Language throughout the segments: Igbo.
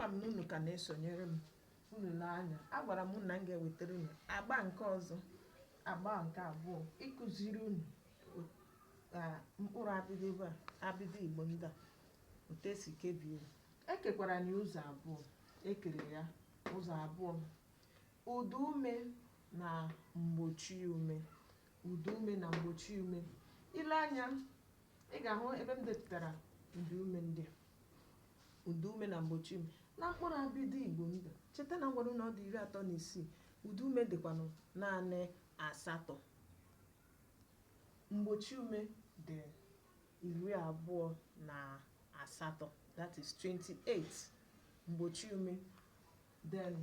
ama m na unu ka na-esonyere m unu lee anya agwara m unu na m ga-ewetara unu agba nke ọzọ agba nke abụọ ịkụziri unu o- ka mkpụrụ abịdị ebe a abịdị igbo ndị a otu esi kebie ya. ekekwaranụ ya ụzọ abụọ ekere ya ụzọ abụọ Ụda ume na mgbochi ume ụda ume na mgbochi ume i lee anya ị ga-ahụ ebe m depụtara ụda ume ndị a ụda ume na mgbochi ume na mkpụrụ abịdị Igbo ndị a cheta na ngwara na ọ dị iri atọ na isii ụda ume dịkwanụ naanị asatọ mgbochi ume dị iri abụọ na asatọ that is 28 mgbochi ume then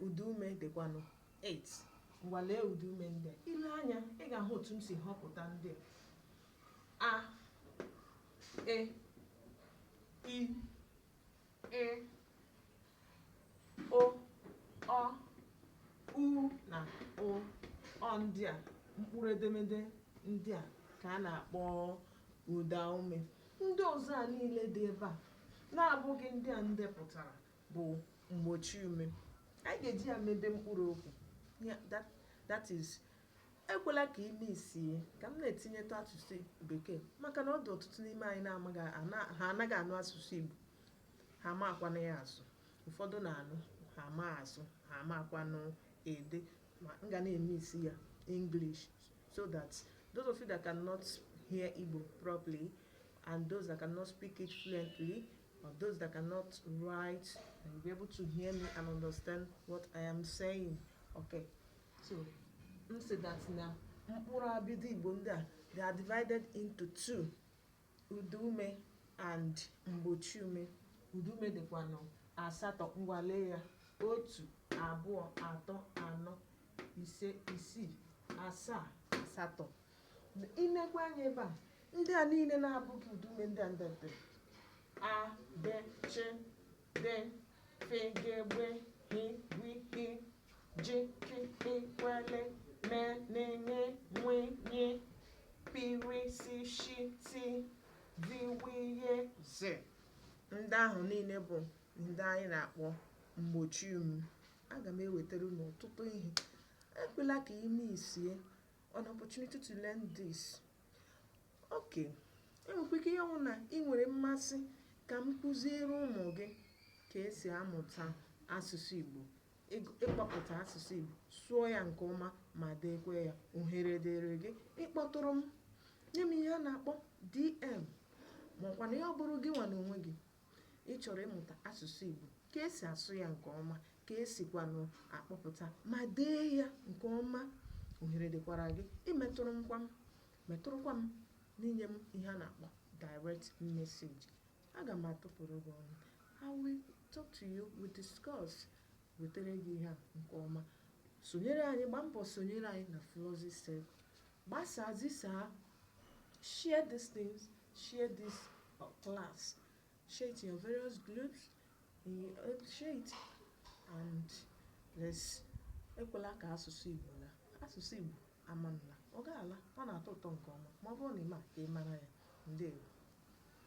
ụdaume dịkwanụ 8 ngwa lee ụdaume ndị a i lee anya ị ga-ahụ otu m si họpụta ndị a a e i ị o ọ u na ụ ọ ndị a mkpụrụ edemede ndị a ka a na-akpọ ụdaume ndị ọzọ a niile dị ebe a na-abụghị ndị a ndepụtara bụ mgbochiume anyị ga-eji ya mebe mkpụrụ okwu ya that, that is ekwela ka i missie ka m na-etinyetụ asụsụ bekee maka na ọ dị ọtụtụ n'ime anyị na-amaghị ana- ha anaghị anụ asụsụ igbo ha amakwanụ ya asụ ụfọdụ na-anụ ha ama asụ ha amakwanụ ede ma m ga na-emix ya english so that those of you that cannot hear igbo properly and those that cannot speak it fluently Or those that cannot write, and you'll be able to hear me and understand what I am saying. Okay. So, m sị that na mkpụrụ abịdị Igbo ndị a they are divided into two. Ụda ume and mgbochi ume. Ụda ume dịkwanụ asatọ ngwa lee ya otu abụọ atọ anọ ise isii asaa asatọ I nekwa anya ebe a, ndị a niile na-abụghị ụda ume ndị a m dere. A, B, Ch, D, F, G, Gb, Gh, Gw, H, J, K, Kp, Kw, L, M, N, Ṅ, Nw, Ny, P, R, S, Sh, T, V, W, Y, Z. Ndị ahụ niile bụ ndị anyị na-akpọ mgbochi ume. Aga m ewetara unu ọtụtụ ihe. Ekwela ka i missie an opportunity to learn this okay enwekwa ike ihe ọ wụ na ị nwere mmasị ka m kụziere ụmụ gị ka esi amụta asụsụ Igbo ịkpọpụta asụsụ Igbo sụọ ya nke ọma ma deekwa ya ohere dịrị gị ịkpọtụrụ m nye m ihe a na-akpọ DM ma ọ kwanụ ya ọ bụrụ gị nwa na onwe gị ị chọrọ ịmụta asụsụ Igbo ka esi asụ ya nke ọma ka esikwanụ akpọpụta ma dee ya nke ọma ohere dịkwara gị imetụrụkwa m metụrụkwa m n'inye m ihe a na-akpọ direct message aga m atụpụrụ gị ọnụ I will talk to you we discuss wetere gị ihe a nke ọma sonyere anyị gbaa mbọ sonyere anyị na Flozi Circle gbasaa zisaa share these things share this uh, class share it in your various groups share it and let's ekwela ka asụsụ igbo laa asụsụ igbo amanla ọ ga-ala ọ na-atọ ụtọ nke ọma ma ọ bụrụ na ị ma ka ị mara ya ndewo